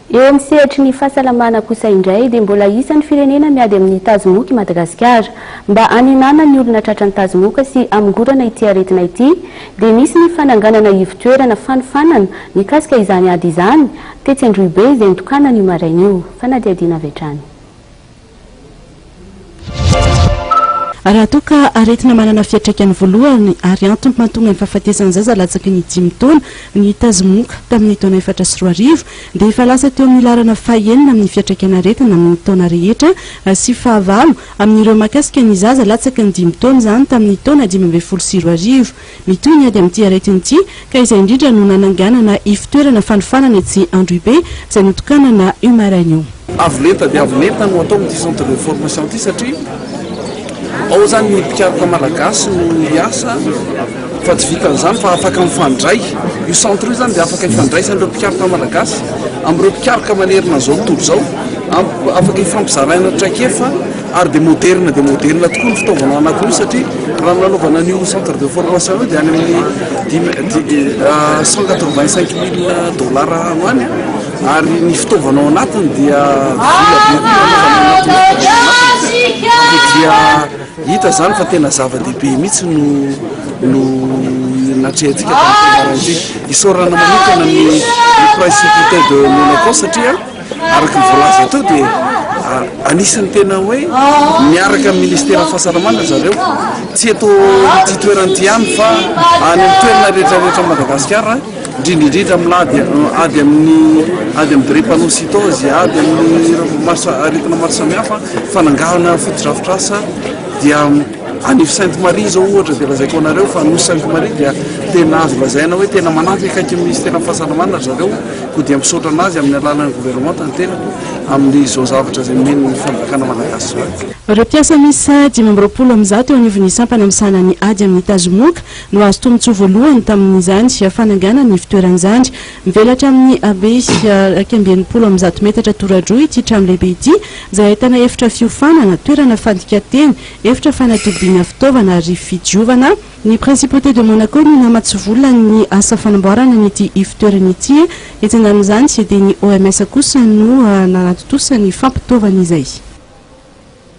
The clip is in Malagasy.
Eo amin'ny sehatry ny fahasalamana kosa indray dia mbola isan'ny firenena miady amin'ny tazomoka i Madagasikara. Mba hanenana ny olona tratran'ny tazomoka sy hamongorana ity aretina ity dia nisy ny fananganana ivon-toerana fanofanana mikasika izany ady izany tetsy Androhibe izay nitokanana io maraina io. Fanadihadiana avy hatrany. Raha toa ka aretina manana fiantraikany voalohany ary antony mahatonga ny fahafatesan'ny zaza latsaky ny dimy taona ny tazomoka tamin'ny taona efatra sy roa arivo dia efa lasa teo amin'ny laharana fahenina amin'ny fiantraikan'aretina amin'ny taona rehetra sy fahavalo amin'ireo mahakasika ny zaza latsaky ny dimy taona izany tamin'ny taona dimy ambin'ny folo sy roa arivo. Mitohy ny ady amin'ity aretina ity ka izay indrindra no nananganana ifitoerana fanofanana etsy Androhibe izay notokanana io maraina io. Avo lenta dia avo lenta no atao amin'ity centre de formation ity satria ao izany ny mpikaroka malagasy no hiasa fa tsy vitan'izany fa afaka mifandray. Io centre io izany dia afaka ifandraisan'ireo mpikaroka malagasy amin'ireo mpikaroka manerana izao tontolo izao, afaka ifampizaraina traikefa. Ary dia moderina dia moderina tokoa ny fitaovana anakiroa satria raha ny nanaovana an'io centre de formation io dia any amin'ny cent quatre vingt cinq mille dollars any any ary ny fitaovana ao anatiny dia vola be koa dia hita izany fa tena zava-dehibe mihitsy no no natrehantsika tamin'ny fianarana ity isaorana manokana ny principauté de Monaco satria Araka ny voalaza teo dia anisan'ny tena hoe miaraka amin'ny ministeran'ny fahasalamana zareo, tsy eto ity toerana ity ihany fa any amin'ny toerana rehetra rehetra Madagasikara, indrindra indrindra milady ady amin'ny ady amin'ny drépanocytose, ady amin'ny aretina maro samihafa, fanangahana fotodrafitrasa dia any Sainte Marie izao ohatra dia lazaiko anareo fa nosy Sainte Marie dia tena azo lazaina hoe tena manampy akaiky ny ministeran'ny fahasalamana zareo Koa dia misaotra an'azy amin'ny alalan'ny governemanta ny tenako amin'izao zavatra izay nomeny ny fanjakana malagasy izao. Ireo mpiasa miisa dimy amby roapolo amin'ny zato eo anivon'ny sampana misahana ny ady amin'ny tazomoka no azo tombontsoa voalohany tamin'izany fananganana ny fitoerana izany. Mivelatra amin'ny habe iraika amby enimpolo amin'ny zato metatra toradroa ity trano lehibe ity izay ahitana efitra fiofanana, toerana fandikan-teny, efitra fanatobiana fitaovana ary fidiovana. Ny Principauté de Monaco no namatsy vola amin'ny asa fanamboarana an'ity ivotoerana ity. Etsy andanin'izany dia ny OMS kosa no nanatontosa ny fampitaovana izay.